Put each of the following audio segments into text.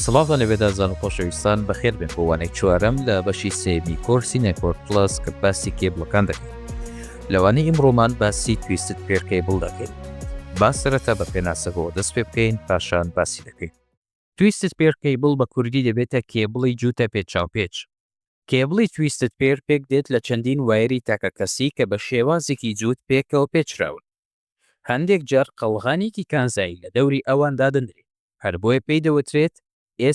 سڵاو لە بێدادزان و خۆشەویستان، بەخێربێن بۆ وانەی چوارەم لە بەشی سێیەمی کۆرسی نێتۆرک پڵەس کە باسی کێبڵەکان دەکەین. لە وانەی ئیمڕۆمان باسی تویستد پێر کەیبڵ دەکەین. با سەرەتا بە پێناسەکەوە دەست پێ بکەین پاشان باسی دەکەین. تویستد پێر کەیبڵ بە کوردی دەبێتە کێبڵی جووتە پێچاوپێچ. کێبڵی تویستد پێر پێک دێت لە چەندین وایەری تاکەکەسی کە بە شێوازێکی جووت پێکەوە پێچراون. هەندێک جار قەڵغانێکی کانزایی لە دەوری ئەوان دادەنرێت، هەر بۆیە پێی دەوترێت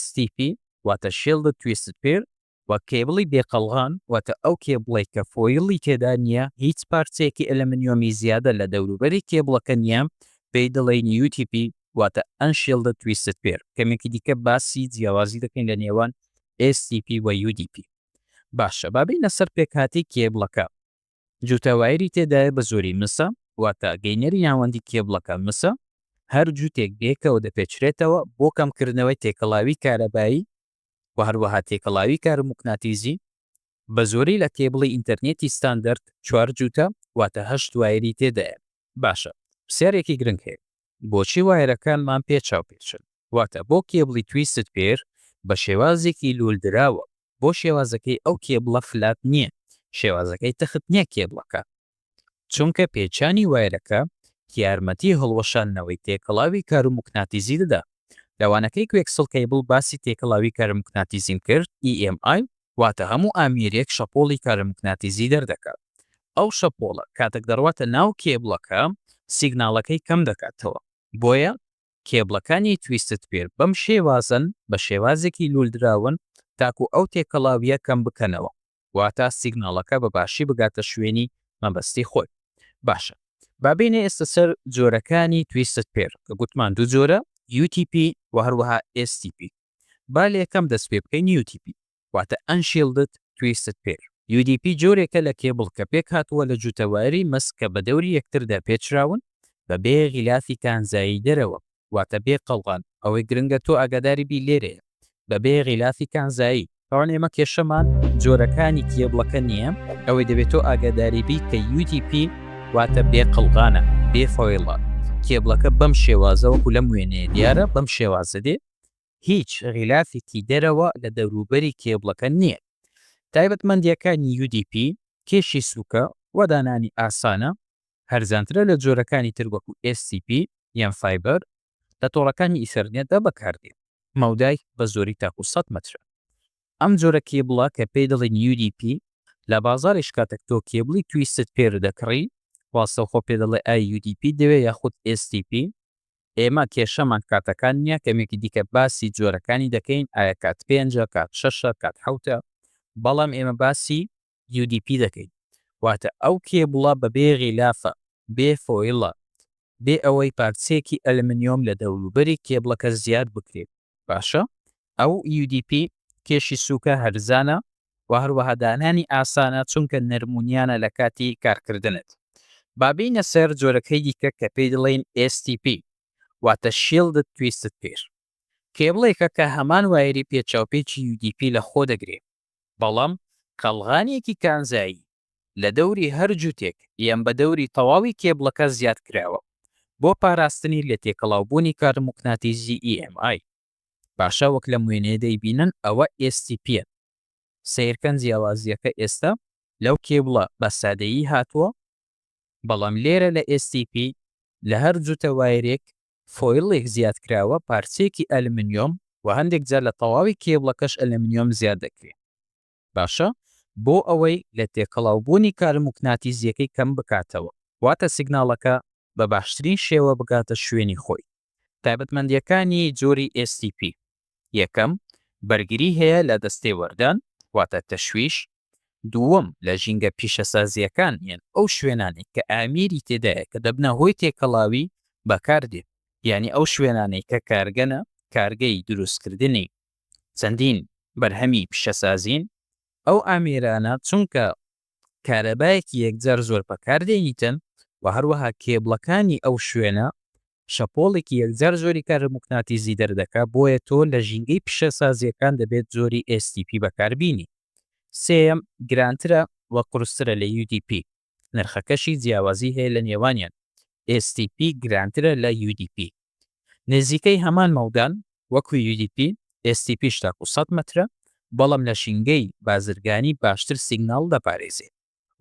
STP واتە Shielded Twisted Pair، و کێبڵی بێ قەڵغان واتە ئەو کێبڵەی کە فۆیڵی تێدا نییە، هیچ پارچەیەکی ئەلەمنیۆمی زیادە لە دەوروبەری کێبڵەکە نییە، پێی دەڵێین UTP واتە Unshielded Twisted Pair. کەمێکی دیکە باسی جیاوازی دەکەین لە نێوان STP و UDP. باشە با بێینە سەر پێکهاتەی کێبڵەکە. جووتە وایری تێدایە بە زۆری مسە واتە گەینەری ناوەندی کێبڵەکە مسە، هەر جووتێک بەیەکەوە دەپێچرێتەوە بۆ کەمکردنەوەی تێکەڵاوی کارەبایی و هەروەها تێکەڵاوی کاروموکناتیزی، بە زۆری لە کێبڵی ئینتەرنێتی ستاندەرد چوار جووتە واتە هەشت وایری تێدایە. باشە پرسیارێکی گرنگ هەیە بۆچی وایەرەکانمان پێ چاوپێچن؟ واتە بۆ کێبڵی تویستد پێر بە شێوازێکی لول دراوە بۆ شێوازەکەی ئەو کێبڵە فلات نیە شێوازەکەی تەخت نیە کێبڵەکە چونکە پێچانی وایەرەکە یارمەتی هەڵوەشاندنەوەی تێکەڵاوی کاروموکناتیزی دەدا لەوانەکەی کوێکسڵ کەیبڵ باسی تێکەڵاوی کارموکناتیزیم کرد EMI واتە هەموو ئامێرێک شەپۆڵی کارموگناتیزی دەردەکات، ئەو شەپۆڵە کاتەک دەڕواتە ناو کێبڵەکە سیگناڵەکەی کەم دەکاتەوە، بۆیە کێبڵەکانی تویستد پێر بەم شێوازەن بە شێوازێکی لولدراون تاکو ئەو تێکەڵاویە کەم بکەنەوە واتە سیگناڵەکە بە باشی بگاتە شوێنی مەبەستی خۆی باشە با بێنە ئێستە سەر جۆرەکانی تویستد پێر کە گوتمان دوو جۆرە UTP و هەروەها STP با لەیەکەم دەست پێ بکەین UTP واتە Unshielded Twisted Pair. UDP جۆرێکە لە کێبڵ کە پێکهاتووە لە جووتە وایەری مەس کە بە دەوری یەکتردا پێچراون بە بێ غیلافی کانزایی دەرەوە واتە بێ قەڵغان ئەوەی گرنگە تۆ ئاگاداری بی لێرەیە بە بێ غیلافی کانزایی تاوان ئێمە کێشەمان جۆرەکانی کێبڵەکە نییە ئەوەی دەبێت تۆ ئاگاداری بی کە UDP واتە بێ قەڵغانە بێ فۆیڵە کێبڵەکە بەم شێوازە وەکو لەم وێنەیە دیارە بەم شێوازە دێ هیچ غیلافێکی دەرەوە لە دەوروبەری کێبڵەکە نییە. تایبەتمەندییەکانی UDP کێشی سووکە و دانانی ئاسانە، هەرزانترە لە جۆرەکانی تر وەکو SCP یان فایبەر، لە تۆڕەکانی ئیثەرنێتدا بەکاردێت. مەودای بە زۆری تاکوو سەد مەترە. ئەم جۆرە کێبڵە کە پێی دەڵێن UDP لە بازاڕیش کاتەک تۆ کێبڵی تویستد پێردەکڕی ڕاستەوخۆ پێدەڵێ ئای UDP ت دەوێ یاخود STP ئێمە کێشەمان کاتەکان نیە کەمێکی دیکە باسی جۆرەکانی دەکەین ئایا کات پێنجە کات شەشە کات حەوتە بەڵام ئێمە باسی UDP دەکەین واتە ئەو کێبڵە بەبێ غیلافە بێ فۆیڵە بێ ئەوەی پارچەیەکی ئەلمنیۆم لە دەوروبەری کێبڵەکە زیاد بکرێت باشە ئەو UDP کێشی سوکە هەرزانە و هەروەها دانانی ئاسانە چونکە نەرمونیانە لە کاتی کارکردنت. با بێینە سەر جۆرەکەی دیکە کە پێی دەڵێین STP واتە Shielded Twisted Pair. کێبڵێکە کە هەمان وایەری پێچاوپێچی UDP لە خۆ دەگرێ بەڵام قەڵغانێکی کانزایی لە دەوری هەر جوتێک یان بە دەوری تەواوی کێبڵەکە زیاد کراوە بۆ پاراستنی لە تێکەڵاوبوونی کارموقناتیزی EMI. باشە وەک لەم وێنەیە دەیبینن ئەوە STP ە سەیرکەن جیاوازیەکە ئێستا لەو کێبڵە بە سادەیی هاتووە بەڵام لێرە لە STP لە هەر جوتە وایرێک فۆیڵێک زیاد کراوە پارچەیەکی ئەلمنیۆم و هەندێک جار لە تەواوی کێبڵەکەش ئەلمنیۆم زیاد دەکرێ باشە بۆ ئەوەی لە تێکەڵاو بوونی کارموکناتیزیەکەی کەم بکاتەوە واتە سیگناڵەکە بە باشترین شێوە بگاتە شوێنی خۆی. تایبەتمەندیەکانی جۆری STP یەکەم، بەرگری هەیە لە دەستەی وەردان واتە تەشویش، دووەم لە ژینگە پیشەسازیەکان یان ئەو شوێنانەی کە ئامیری تێدایە کە دەبنە هۆی تێکەڵاوی بەکاردێ یانی ئەو شوێنانەی کە کارگەنە کارگەی دروستکردنی چەندین بەرهەمی پیشەسازین، ئەو ئامێرانە چونکە کارەبایەکی یەکجار زۆر بەکاردێنیتن و هەروەها کێبڵەکانی ئەو شوێنە شەپۆڵێکی یەکجار زۆری کارموگناتیزی دەردەکا بۆیە تۆ لە ژینگەی پیشەسازیەکان دەبێت جۆری ئێس تی پی بەکاربینی سێیەم گرانترە و قورسترە لە یو دی پی. نرخەکەشی جیاوازی هەیە لە نێوانیان، stp گرانترە لە udp نێزیکەی هەمان مەودان وەکو udp، stp ش تاکو سەد مەترە بەڵام لە ژینگەی بازرگانی باشتر سیگناڵ دەپارێزێ.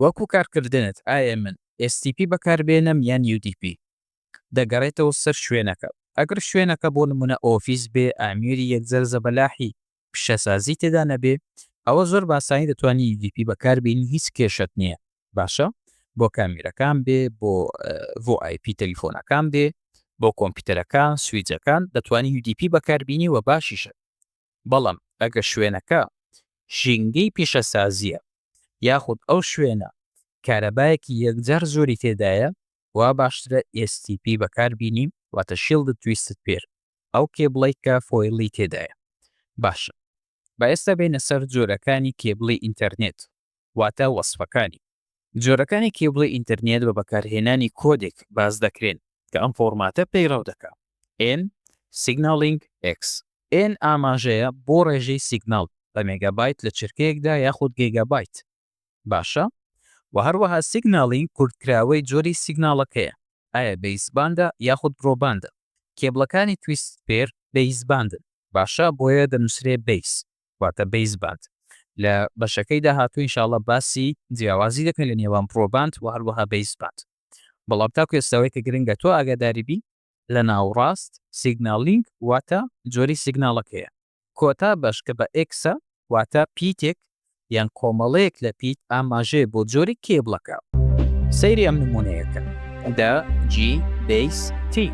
وەکو کارکردنت ئایە من stp بەکاربێنم یان udp دەگەڕێتەوە سەر شوێنەکە ئەگەر شوێنەکە بۆ نمونە ئۆفیس بێ ئامیری یەکجار زەبەلاحی پیشەسازی تێدا نەبێ ئەوە زۆر باسانی دەتوانی UDP بەکار بینی هیچ کێشەت نییە باشە بۆ کامیرەکان بێ بۆ بۆ آیپی تەلیفۆنەکان بێ بۆ کۆمپیوتەرەکان سویجەکان دەتوانی UDP بەکاربینی و باشیشە بەڵام ئەگە شوێنەکە ژینگەی پیشەسازیە یاخود ئەو شوێنە کارەبایەکی یەکجار زۆری تێدایە وا باشترە STP بەکار بینیم واتە شیڵدد تویستد پێر ئەو کێبڵەی کە فۆیڵی تێدایە باشە با ئێستا بێینە سەر جۆرەکانی کێبڵی ئینتەرنێت واتە وەسفەکانی جۆرەکانی کێبڵی ئینتەرنێت بە بەکارهێنانی کۆدێک باس دەکرێن کە ئەم فۆرماتە پەیڕەو دەکا N Signaling X N ئاماژەیە بۆ ڕێژەی سیگناڵ بە مێگابایت لە چرکەیەکدا یاخود گێگابایت باشە وە هەروەها سیگناڵینگ کورتکراوەی جۆری سیگناڵەکەیە ئایا بەیسباندە یاخود برۆباندە کێبڵەکانی تویستد پێر بەیسباندن باشە بۆیە دەنوسرێ بەیس واتە بەیسباند لە بەشەکەی داهاتوو ان شاءاللە باسی جیاوازی دەکەین لە نێوان برۆباند وە هەروەها بەیسباند بەڵام تاکو ئێستا ئەوەی کە گرنگە تۆ ئاگاداری بی لە ناوڕاست، سیگناڵینگ واتە جۆری سیگناڵەکەیە. کۆتا بەش کە بە ئێکسە واتە پیتێک یان کۆمەڵەیەک لە پیت ئاماژەیە بۆ جۆری کێبڵەکە. سەیری ئەم نموونەیە کە. د، جی، بەیس، تی.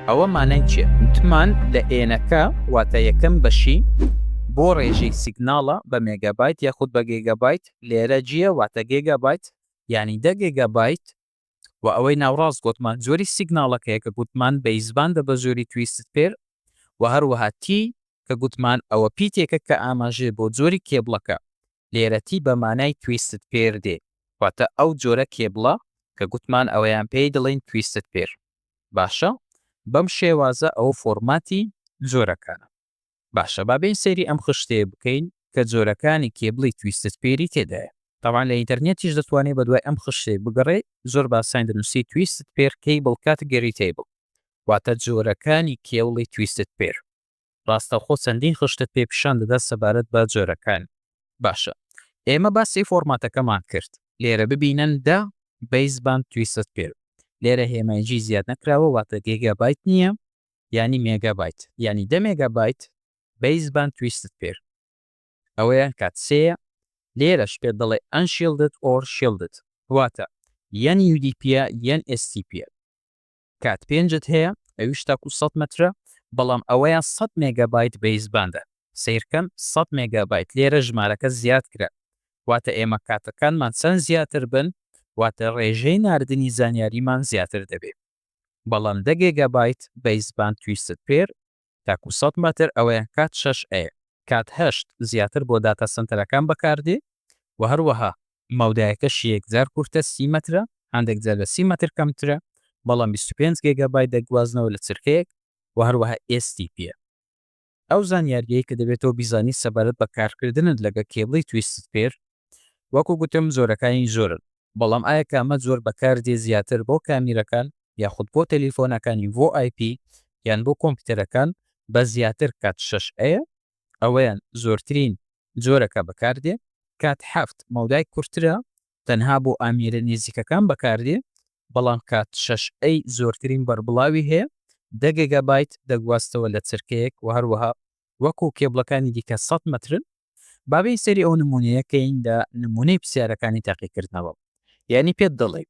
ئەوە مانای چیە؟ وتمان لە ئێنەکە واتە یەکەم بەشی بۆ ڕێژەی سیگناڵە بە مێگابایت یاخود بە گێگابایت، لێرە جیە واتە گێگابایت یانی دە گێگابایت و ئەوەی ناوڕاست گۆتمان جۆری سیگناڵەکەیە کە گوتمان بەیزبان دە بە جۆری تویستد پێر و هەروەها تی کە گوتمان ئەوە پیتێکە کە ئاماژەیە بۆ جۆری کێبڵەکە لێرە تی بە مانای تویستد پێر دێ واتە ئەو جۆرە کێبڵە کە گوتمان ئەوەیان پێی دەڵێین تویستد پێر باشە بەم شێوازە ئەوە فۆرماتی جۆرەکانە. باشە با بێین سەیری ئەم خشتەیە بکەین کە جۆرەکانی کێبڵی تویستد پێری تێدایە. تەبعەن لە ئینتەرنێتیش دەتوانێ بە دوای ئەم خشتەیە بگەڕێ زۆر باساین دەنوسی تویستد پێر کەیبڵ کات گەری تەیبڵ واتە جۆرەکانی کێوڵی تویستد پێر. ڕاستەوخۆ چەندین خشتت پێ پیشان دەدا سەبارەت بە جۆرەکانی. باشە ئێمە باسی فۆرماتەکەمان کرد لێرە ببینن دە بەیس باند تویستد پێر لێرە هێمای جی زیاد نەکراوە واتە گێگا بایت نییە یانی مێگا بایت یانی دە مێگا بایت بەیس باند تویستد پێر ئەوەیان کات سێیە لێرەش پێت دەڵێ ئەن شیلدد ئۆر شیلدد واتە یەن یو دی پیە یەن ئێس تی پیە کات پێنجت هەیە ئەویش تاکو سەد مەترە بەڵام ئەوەیان سەد مێگا بایت بەیس باندە سیرکەن سەد مێگا بایت لێرە ژمارەکە زیاد کرا واتە ئێمە کاتەکانمان چەند زیاتر بن واتە ڕێژەی ناردنی زانیاریمان زیاتر دەبێت بەڵام دە گێگابایت بەیس باند تویستد پێر تاکو سەد مەتر ئەوەیان کات شەش ئەیە کات هەشت زیاتر بۆ داتا سەنتەرەکان بەکاردێ و هەروەها مەودایەکەشی یەکجار کورتە سی مەترە هەندێک جار لە سی مەتر کەمترە بەڵام بیست و پێنج گێگابایت دەگوازنەوە لە چرکەیەک و هەروەها ئێس تی پیە. ئەو زانیارییەی کە دەبێت تۆ بیزانیت سەبارەت بە کارکردنت لەگە کێبڵی تویستد پێر وەکو گوتم جۆرەکانی زۆرن بەڵام ئایا کامە جۆر بەکار دێ زیاتر بۆ کامیرەکان یاخود بۆ تەلیفۆنەکانی VoIP یان بۆ کۆمپیتەرەکان بەس زیاتر کات شەش ەیە ئەوەیان زۆرترین جۆرەکە بەکار دێ کات حەفت مەودای کورترە تەنها بۆ ئامیرە نێزیکەکان بەکار دێ بەڵام کات شەش ئەی زۆرترین بەربڵاوی هەیە دە گێگابایت دەگوازتەوە لە چرکەیەک وە هەروەها وەکو کێبڵەکانی دیکە سەد مەترن. با بێین سەیری ئەو نمونەیە کەین لە نمونەی پرسیارەکانی تاقیکردنەوە یانی پێت دەڵێ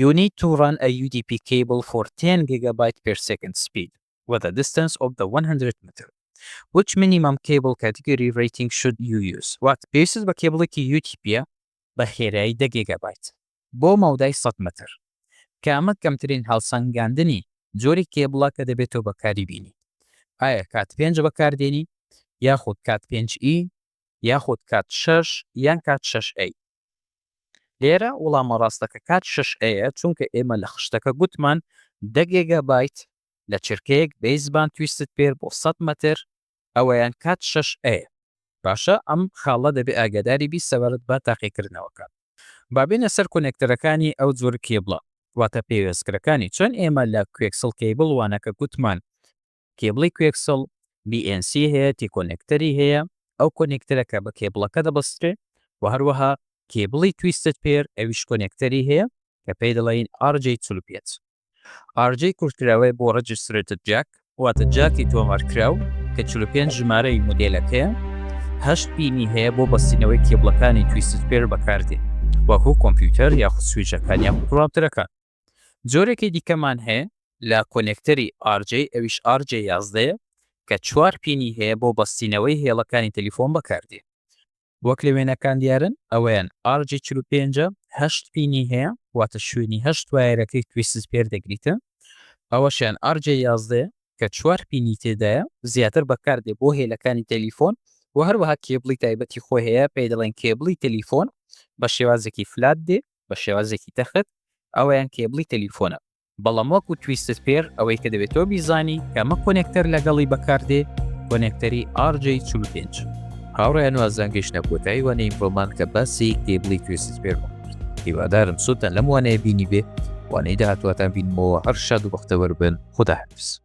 You need to run a UDP cable for ten gigabyte per second speed with a distance of the one hundred meter Which minimum cable category rating should you use وات پێویستت بە کێبڵێکی UTP-ە بە خێرایی دە گێگابایت بۆ مەودای سەد مەتر. کامە کەمترین هەڵسەنگاندنی جۆری کێبڵە کە دەبێت تۆ بەکاری بینی؟ ئایا کات پێنج بەکار دێنی یاخود کات پێنج ئی یاخود کات شەش یان کات شەش ئەی؟ لێرە وڵامە ڕاستەکە کات شەش ئەیە چونکە ئێمە لە خشتەکە گوتمان دە گێگابایت لە چرکەیەک بەیسبان تویستد پێر بۆ سەد مەتر ئەوەیان کات شەش ەیە. باشە ئەم خاڵە دەبێ ئاگاداری بی سەبارەت بە تاقیکردنەوەکە با بێنە سەر کۆنێکتەرەکانی ئەو جۆر کێبڵە واتە پێوێستکرەکانی چۆن ئێمە لە کوێکسڵ کێبڵ وانە کە گوتمان کێبڵی کوێکسڵ BNC هەیە تی کۆنێکتەری هەیە ئەو کۆنێکتەرەکە بە کێبڵەکە دەبەسترێ و هەروەها کێبڵی تویستت پێر ئەویش کۆنێکتەری هەیە کە پێی دەڵێن RJ45 RJ کورتکراوەیە بۆ Registrated Jack واتە جاکی تۆمارکراو کە چل و پێنج ژمارەی مودێلەکەیە، هەشت پینی هەیە بۆ بەستینەوەی کێبڵەکانی Twisted Pair بەکاردێت وەکو کۆمپیوتەر یاخود سویچەکان یاخود ڕاوتەرەکان. جۆرێکی دیکەمان هەیە لە کۆنێکتەری RJ ئەویش RJ یازدە یە کە چوار پینی هەیە بۆ بەستینەوەی هێڵەکانی تەلیفۆن بەکاردێت وەک لە وێنەکان دیارن ئەوەیان ئارجی چل و پێنج ە، هەشت پینی هەیە واتە شوێنی هەشت وایەرەکەی تویست سپێر دەگریتە، ئەوەشیان ئارجێ یازدە یە کە چوار پینی تێدایە زیاتر بەکاردێ بۆ هێلەکانی تەلیفۆن و هەروەها کێبڵی تایبەتی خۆی هەیە پێی دەڵێن کێبڵی تەلیفۆن بە شێوازێکی فلات دێ بە شێوازێکی تەخت ئەوەیان کێبڵی تەلیفۆنە. بەڵام وەکو تویستد پێر ئەوەی کە دەبێت تۆ بیزانی کە ئەمە کۆنێکتەر لەگەڵی بەکاردێ کۆنێکتەری RJ چل و پێنج. هاوڕێیان وازیان گەیشتە کۆتایی وانەی ئیمڕۆمان کە باسی کێبڵی توێسیت پێرمان کرد هیوادارم سوودتان لەم وانەیە بینی بێ وانەی داهاتواتان بینمەوە هەر شاد و بەختەوەر بن خوداحافیز